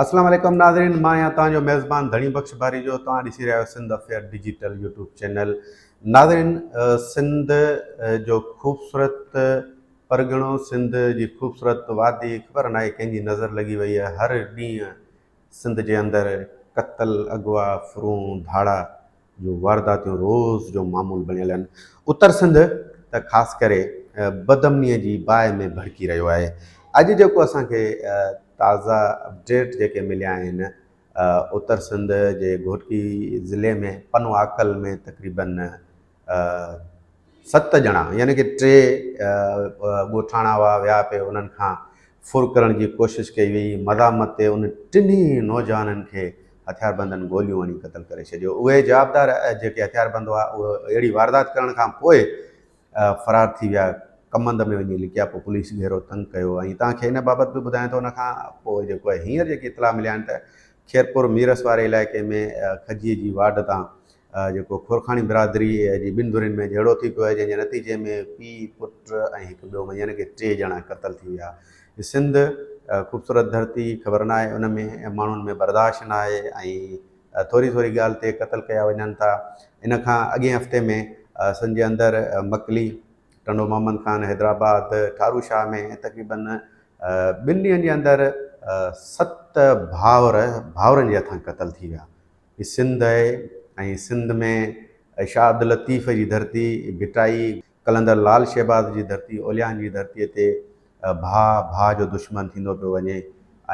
اسلام عليڪم ناظرين مان آهيان توهان جو ميزبان ڌڻي بخش ڀاريجو توهان ڏسي رهيا آهيو Sindh affair digital YouTube channel ناظرين سنڌ جو خوبصورت پرڳڻو سنڌ جي خوبصورت وادي خبر ناهي ڪنهن جي نظر لڳي وئي آهي هر ڏينهن سنڌ جي اندر قتل اغوا فرون ڌاڙا جون وارداتيون روز جو معمول بڻيل آهن. اتر سنڌ ته خاص ڪري بدامنيء جي باهه ۾ ڀڙڪي رهيو آهي. اڄ جيڪو اسان کي تازا اپڊيٽ جيڪي مليا آهن اتر سنڌ جي گهوٽڪي ضلعي ۾ پنواڪل ۾ تقريبن ست ڄڻا يعني ڪي ٽي ڳوٺاڻا هئا ويا پي انهن کان ڦر ڪرڻ جي ڪوشش ڪئي وئي مزاحمت تي ان ٽنهي نوجوانن کي هٿياربندن گوليون هڻي قتل ڪري ڇڏيو. اهي جوابدار جيڪي هٿياربند هئا اهي اهڙي واردات ڪرڻ کان پوء فرار ٿي ويا، ڪمند ۾ وڃي لڪيا، پوء پوليس گهيرو تنگ ڪيو ۽ توهان کي ان بابت به ٻڌايان ته ان کان پوء جيڪو آهي هينئر جيڪي اطلاع مليا آهن ته خيرپور ميرس واري علائقي ۾ کجيء جي واڍ تان جيڪو خورخاڻي برادريء جي ٻن ڌرين ۾ جهيڙو ٿي پيو آهي، جنهن جي نتيجي ۾ پيء، پٽ ۽ هڪ ٻيو مئي يعني ڪي ٽي ڄڻا قتل ٿي ويا. هي سنڌ، خوبصورت ڌرتي، خبر ناهي ان ۾ ماڻهن ۾ برداشت ناهي ۽ ٿوري ٿوري ڳالهه تي قتل ڪيا وڃن ٿا. ان کان اڳئين هفتي ۾ سنڌ جي اندر مڪلي، ٽنڊو محمد خان، حيدرآباد، ٺارو شاهه ۾ تقريباً ٻن ڏينهن جي اندر ست ڀائر ڀائرن جي هٿان قتل ٿي ويا. هي سنڌ آهي ۽ سنڌ ۾ شاهه عبداللطيف جي ڌرتي، ڀٽائي، قلندر لعل شهباز جي ڌرتي، اوليائن جي ڌرتي تي ڀاء ڀاء جو دشمن ٿيندو پيو وڃي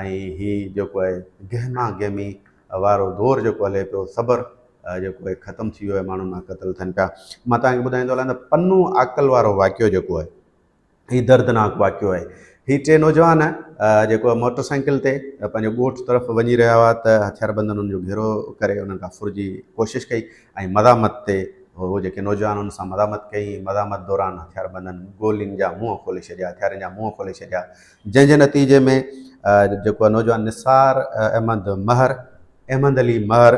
۽ هي جيڪو آهي گهما گهمي وارو دور جيڪو هلي پيو صبر جيڪو آهي ختم ٿي ويو آهي ماڻهو مان قتل ٿين پيا. مان توهان کي ٻڌائيندو هلان ته پنو عاقل وارو واقعو جيڪو آهي هي دردناڪ واقعو آهي هي ٽي نوجوان جيڪو موٽر سائيڪل تي پنهنجو ڳوٺ طرف وڃي رهيا هئا ته هٿياربندن انهن جو گهيرو ڪري انهن کان ڦر جي ڪوشش ڪئي ۽ مزاحمت تي هو جيڪي نوجوان ان سان مزاحمت ڪئي مزاحمت دوران هٿياربندن گولين جا منهن کولي ڇڏيا هٿيارن جا منهن کولي ڇڏيا جنهن جي نتيجي ۾ جيڪو نوجوان نثار احمد مهر احمد علي مهر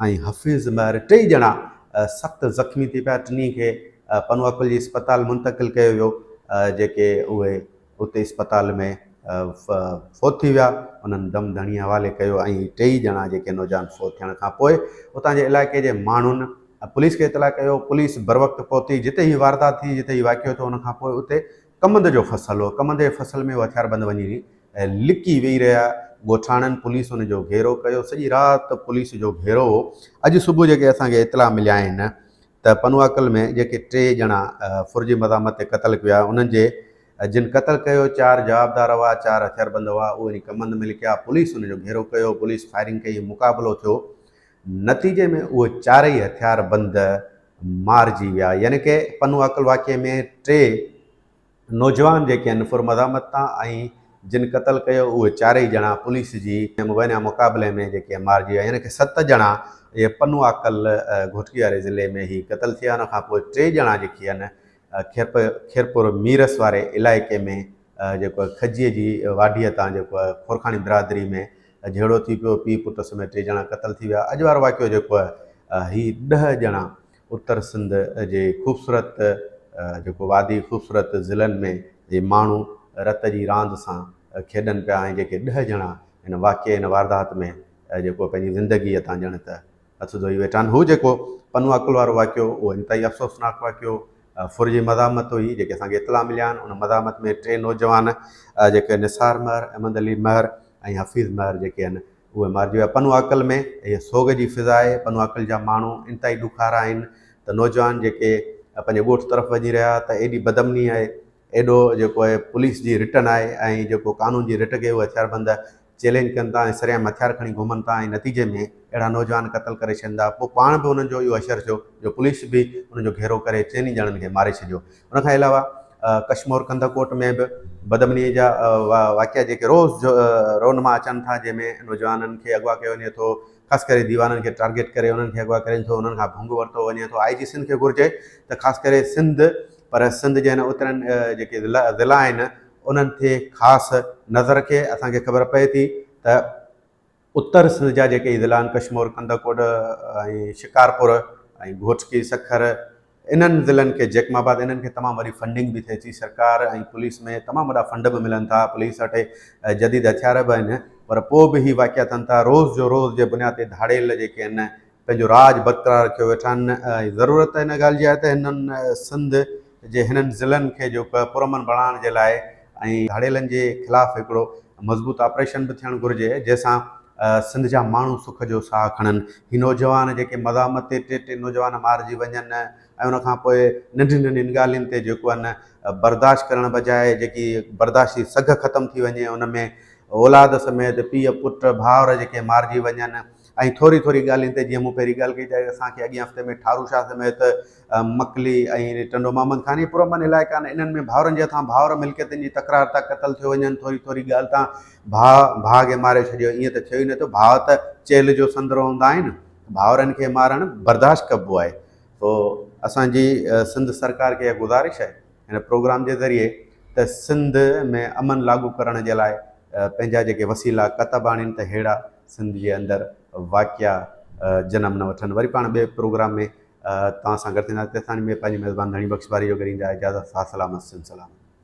۽ حفيظ مهر ٽئي ڄڻا سخت زخمي ٿي پيا ٽنهي کي پنوعقل جي اسپتال منتقل ڪيو ويو جيڪي اهي اتي اسپتال ۾ فوت ٿي ويا انهن دم ڌڻي حوالي ڪيو ۽ ٽئي ڄڻا جيڪي نوجوان فوت ٿيڻ کان پوء اتان جي علائقي جي ماڻهن پوليس کي اطلاع ڪيو پوليس بروقت پهتي جتي هي واردات ٿي جتي هي واقعو ٿيو ان کان پوء اتي ڪمند جو فصل هو، ڪمند جي فصل ۾ هو هٿياربند وڃي لڪي ويهي رهيا، ڳوٺاڻن پوليس ان جو گهيرو ڪيو، سڄي رات پوليس جو گهيرو هو، اڄ صبح جيڪي اسان کي اطلاع ملي آهن ته پنواڪل ۾ جيڪي ٽي ڄڻا فرضي مزاحمت تي قتل ڪيو آهي انهن جي جن قتل ڪيو چار جوابدار هئا، چار هٿياربند هئا، اهي وڃي ڪمند ۾ لڪيا، پوليس ان جو گهيرو ڪيو، پوليس فائرنگ ڪئي، مقابلو ٿيو، نتيجي ۾ اهي چارئي هٿيار بند مارجي ويا يعني ڪي پنو عقل واقعي ۾ ٽي نوجوان جيڪي ان پر مزاحمت تان ۽ جن قتل ڪيو اهي چارئي ڄڻا پوليس جي مبينا مقابلي ۾ جيڪي مارجي ويا يعني ڪي ست ڄڻا اهي پنو عقل گهوٽڪي واري ضلعي ۾ هي قتل ٿيا ان کان پوء ٽي ڄڻا جيڪي آهن کيرپور ميرس واري علائقي ۾ جيڪو آهي کجيء جي واڍيء تان جيڪو آهي خورکاڻي برادري ۾ جهيڙو ٿي پيو، پيء پٽ سميت ٽي ڄڻا قتل ٿي ويا، اڄ وارو واقعو جيڪو آهي هي ڏهه ڄڻا اتر سنڌ جي خوبصورت جيڪو وادي خوبصورت ضلعن ۾ جي ماڻهو رت جي راند سان کيڏن پيا ۽ جيڪي ڏهه ڄڻا ان واقعي ان واردات ۾ جيڪو پنهنجي زندگي تان ڄڻ ته هٿ ڌوئي ويٺا آهن. هو جيڪو پنو عقل وارو واقعو اهو انتهائي افسوسناڪ واقعو ڦر جي مزاحمت هئي جيڪي اسان کي اطلاع مليا آهن ان مزاحمت ۾ ٽي نوجوان جيڪي نثار مهر، احمد علي مهر ۽ حفيظ مهر جيڪي آهن اهي مارجي ويا پنو عقل ۾ اهي سوڳ جي فضا آهي پنو عقل جا ماڻهو انتهائي ڏکارا آهن ته نوجوان جيڪي پنهنجي ڳوٺ طرف وڃي رهيا ته ايڏي بدامني آهي ايڏو جيڪو آهي پوليس جي رٽن آهي ۽ جيڪو قانون جي رٽ کي اهي هٿياربند چئلينج ڪن ٿا ۽ سرعام هٿيار کڻي گهمن ٿا ۽ نتيجي ۾ اهڙا نوجوان قتل ڪري ڇڏين ٿا پوء پاڻ به انهن جو اهو حشر ٿيو جو پوليس به انهن جو گهيرو ڪري چئن ئي ڄڻن کي ماري ڇڏيو ان کان علاوه ڪشمور ڪنڌڪوٽ ۾ به بدامنيء جا واقعا جيڪي روز رونما اچن ٿا جنهن ۾ نوجوانن کي اغوا ڪيو وڃي ٿو خاص ڪري ديوانن کي ٽارگيٽ ڪري انهن کي اغوا ڪرين ٿو انهن کان ڀنگ ورتو وڃي ٿو آء جي سنڌ کي گهرجي ته خاص ڪري سنڌ پر سنڌ جي هن اترين جيڪي ضلعا آهن انهن تي خاص نظر رکي اسان کي خبر پئي ٿي ته اتر سنڌ جا جيڪي اضلاع آهن ڪشمور، ڪنڌڪوٽ ۽ شڪارپور ۽ گهوٽڪي، سکر انهن ضلعن کي جيڪم آباد انهن کي تمام وڏي فنڊنگ به ٿئي ٿي سرڪار ۽ پوليس ۾ تمام وڏا فنڊ به ملن ٿا پوليس وٽ جديد هٿيار به آهن پر پوء به هي واقعا ٿين ٿا روز جو روز جي بنياد تي ڌاڙيل جيڪي آهن پنهنجو راڄ برقرار رکيو ويٺا آهن ۽ ضرورت ان ڳالهه جي آهي ته هنن سنڌ جي هنن ضلعن کي جو پرامن بڻائڻ جي لاء ۽ ڌاڙيلن جي خلاف هڪڙو مضبوط آپريشن به ٿيڻ گهرجي جنهن سان سنڌ جا ماڻهو سک جو ساهه کڻن هي نوجوان جيڪي مزاحمت تي ٽي ٽي نوجوان مارجي وڃن ۽ ان کان پوء ننڍين ننڍين ڳالهين تي جيڪو آهي نه برداشت ڪرڻ بجاء جيڪي برداشت جي سگهه ختم ٿي وڃي ان ۾ اولاد سميت پيء پٽ ڀائر جيڪي مارجي وڃن ۽ ٿوري ٿوري ڳالهين تي جيئن مون پهرين ڳالهه ڪئي ته اسان کي اڳين هفتي ۾ ٺارو شاهه سميت مڪلي ۽ ٽنڊو محمد خان اهي پرامن علائقا آهن انهن ۾ ڀائرن جي هٿان ڀائر ملڪيتن جي تڪرار تان قتل ٿيو وڃن ٿوري ٿوري ڳالهه تان ڀاء ڀاء کي ماري ڇڏيو ائين ته ٿيو ئي نه ٿو ڀاء ته چيلهه جو سندرو هوندا آهن ڀائرن کي مارڻ برداشت ڪبو آهي سو اسان جي سنڌ سرڪار کي اها گذارش آهي هن پروگرام جي ذريعي ته سنڌ ۾ امن لاڳو ڪرڻ جي لاء پنهنجا جيڪي وسيلا ڪتب آڻين ته ههڙا سنڌ جي اندر واقعا جنم نه وٺن وري پاڻ ٻئي پروگرام ۾ توهان سان گڏ ٿينداسين تيسين تائين ۾ پنهنجي ميزبان ڌڻي بخش باري جو گهريندا اجازت ساٿ سلامت سنڌ سلامت.